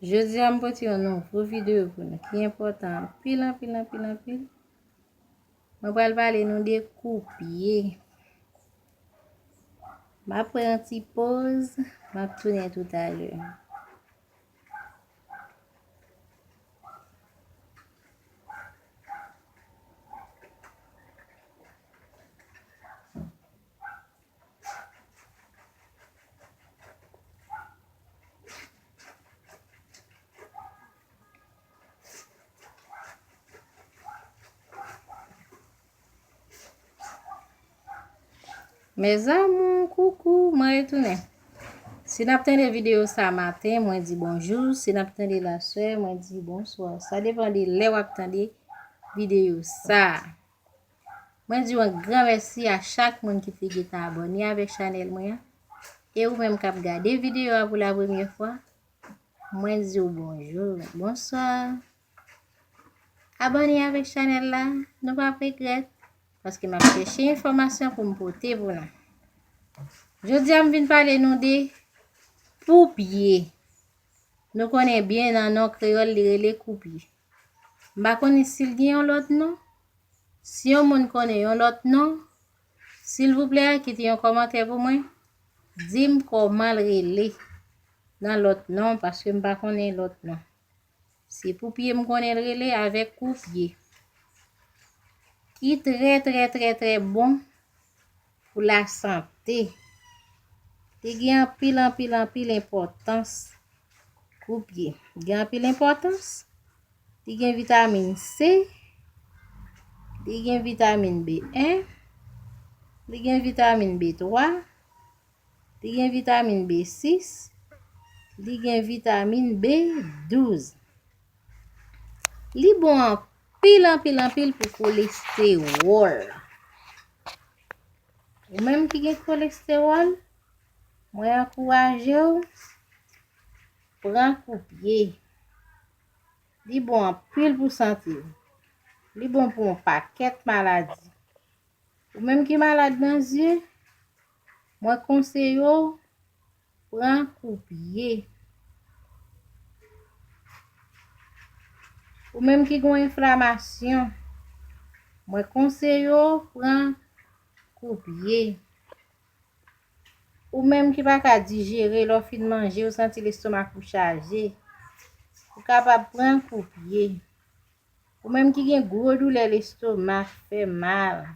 Jodi a m pote yon nouvo videyo pou nou ki enpòtan anpil anpil anpil anpil. Mwen pral pale nou de koupye. M ap pran yon ti poz, m ap tounen tout alè. Mezamou, koukou, mwen retounen. Si nap tende video sa maten, mwen di bonjou. Si nap tende la swe, mwen di bonsoir. Sa depan de le wap tende video sa. Mwen di w yon gran mèsi a chak moun ki te gentan abòne avèk chanèl mwen an e ou menm kap gade videyo a pou la premye fwa mwen di w bonjou, bonswa abòne avèk chanèl la nou pap regrèt paske map chèche enfòmasyon pou m pote pou nou jodi a m vin pale nou de poupye nou konnen byen nan non kreyòl li rele koupye. M pa konnen si l gen yon lòt non. Si yon moun konnen yon lòt non, silvouplè kite yon kòmantè pou mwen, di m kòman l rele nan lòt non paske m pa konnen lòt non. Se Poupye m konnen l rele avèk Koupye ki trè trè trè trè bon. Pou la sante. Li gen anpil anpil anpil enpòtans. Koupye. Gen anpil enpòtans. Li gen vitamin C. Li gen vitamin B1. Li gen vitamin B3. Li gen vitamin B6. Li gen vitamin B12. Li bon anpil. Anpil, anpil, anpil pou kolestewòl. Ou menm ki gen kolestewòl, mwen ankouraje ou, pran koupye. Li bon anpil pou sante ou. Li bon pou yon pakèt maladi. Ou menm ki malad nan zye, Mwen konseye w pran kou pye. Ou menm ki gen yon enflamasyon. Mwen konseye w pran kou pye. Ou menm ki pa ka dijere lè w fin manje ou santi lestomak ou chaje. Ou kapab pran kou pye. Ou menm ki gen gwo doulè lestomak fè mal.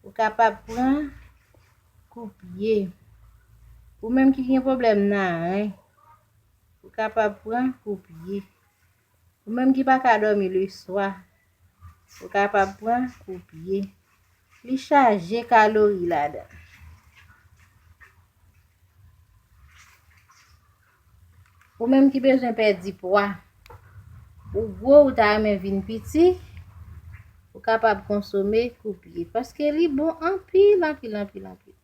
Ou kapab pran kou pye. Ou menm ki gen pwoblèm naren, ou kapab pran kou pye. Ou menm ki pa ka dòmi leswa, ou kapab pran kou pye. Li chaje kalori ladan. Ou menm ki bezwen pèdi pwa, ou gwo ou ta renmen vin piti, ou kapab konsome koupye. Paske li bon anpil, anpil, anpil, anpil.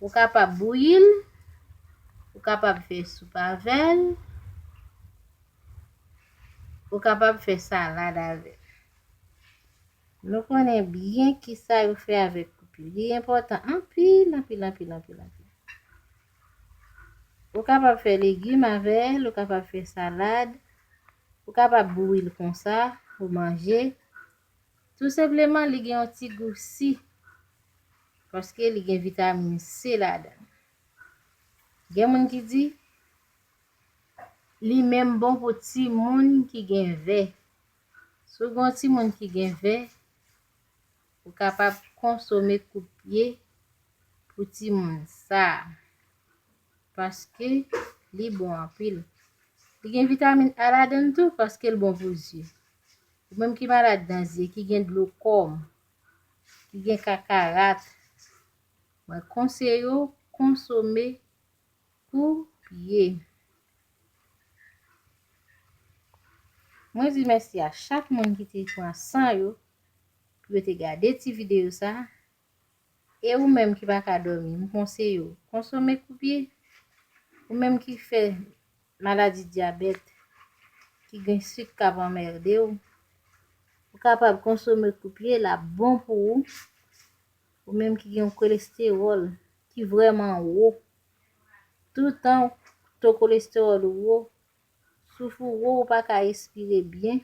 Ou kapab bouyi l, ou kapab fè soup avè l, ou kapab fè salad avè l. Nou konnen byen kisa yo fè avèk koupye. Li enpòtan anpil, anpil, anpil, anpil, anpil. Ou kapab fè legim avè l, ou kapab fè salad, ou kapab bouyi l konsa pou manje. Tou senpleman li gen yon ti gou si paske li gen vitamin C ladan l. Gen moun ki di li menm bon pou timoun ki gen vè. Si w gen yon timoun ki gen vè. Ou kapab konsome kout pye pou timoun sa a paske li bon anpil. Li gen vitamin A ladan l tou paske l bon pou zye. Ou menm ki malad nan zye, ki gen dlokom, ki gen kakarat, mwen konseye w konsome kou pye. Mwen di mèsi a chak moun ki te pran san yo Rete gade ti videyo sa. E ou menm ki pa ka dòmi, m konseye w, konsome koupye. Ou menm ki fè maladi dyabèt, ki gen sik k ap anmède w, ou kapab konsome koupye, l ap bon pou ou. Ou menm ki gen yon kolestewòl ki vrèman wo, toutan to kolestewòl ou wo, Souf ou wo ou pa ka respire byen.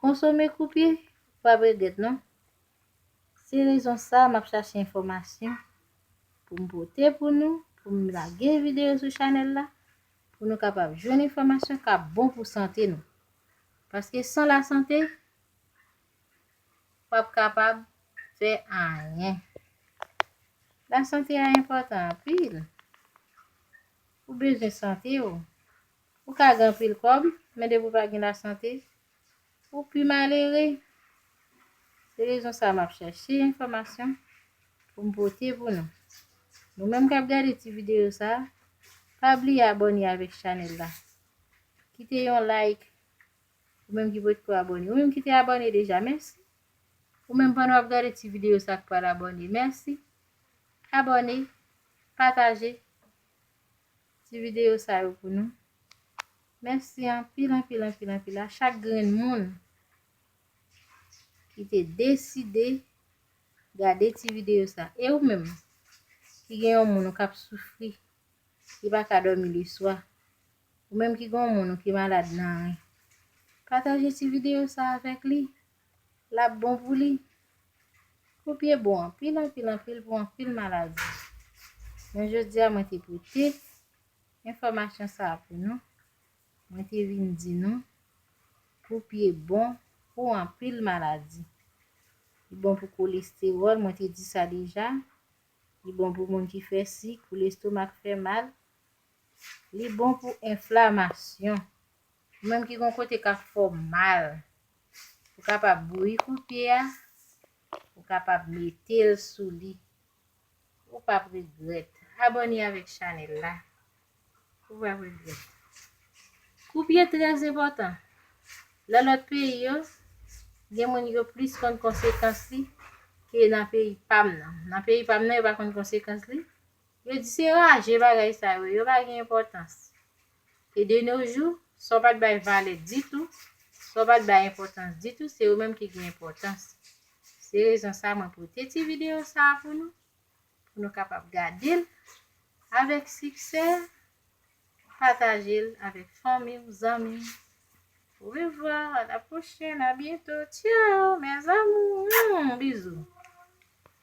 Konsome koupye, ou pap regrèt non. Se rezon sa map chache enfòmasyon pou m pote pou nou, pou m lage videyo sou chanèl la pou nou kapab jwenn enfòmasyon kap bon pou sante nou. Paske san la sante, ou pap kapab fè anyen. La sante a enpòtan anpil. Ou bezwen sante w. Ou ka gen anpil kòb, men depi w pa gen lasante, ou pi malere. Se rezon sa a m ap chache enfòmasyon pou m pote pou nou. Nou menm k ap gade ti videyo sa a, pa bliye abòne avèk chanèl la. Kite yon like, ou menm ki potko abòne. Ou menm ki te abòne deja, mèsi. Ou menm pandan w ap gade ti videyo sa a k pral abòne, mèsi. Abòne, pataje. ti video sa yo pou nou. Mèsi anpil anpil anpil anpil a chak grenn moun ki te deside gade ti video sa. E ou menm ki gen yon moun ou kap soufri ki pa ka dòmi le swa, ou menm ki gen yon moun ou ki malad nan ren, pataje ti video sa avèk li. Lap bon pou li. Koup ye bon anpil anpil anpil pou anpil maladi. Men jodi a mwen te pote enfòmasyon sa a pou nou. Mwen te vin di nou koup ye bon pou anpil maladi. Li bon pou kolestewòl, mwen te di sa deja. Li bon pou moun ki fè sik, pou lestomak fè mal. Li bon pou enflamasyon. Ou menm ki gon kote kap fè w mal ou kapab bouyi kout pye a ou kapab mete l sou li ou pap regrèt abòne avèk chanèl la ou pap regrèt kout pye trè enpòtan nan lòt peyi yo gen moun yo plis konn konsekans li ke nan peyi pam nan nan peyi pam nan yo pa konn konsekans li yo di se raje bagay sa yo yo pa gen enpòtans. E de no jou, sa w pa t bay valè ditou, sa w pa t bay enpòtans ditou, se ou menm ki gen enpòtans. Se rezon sa mwen pote ti videyo sa a pou nou, pou nou kapab gade l avèk siksè, pataje l avèk fanmi w, zanmi w. Orevwa, a la pwochèn, a byento, tchao mes amours, humm, bizou.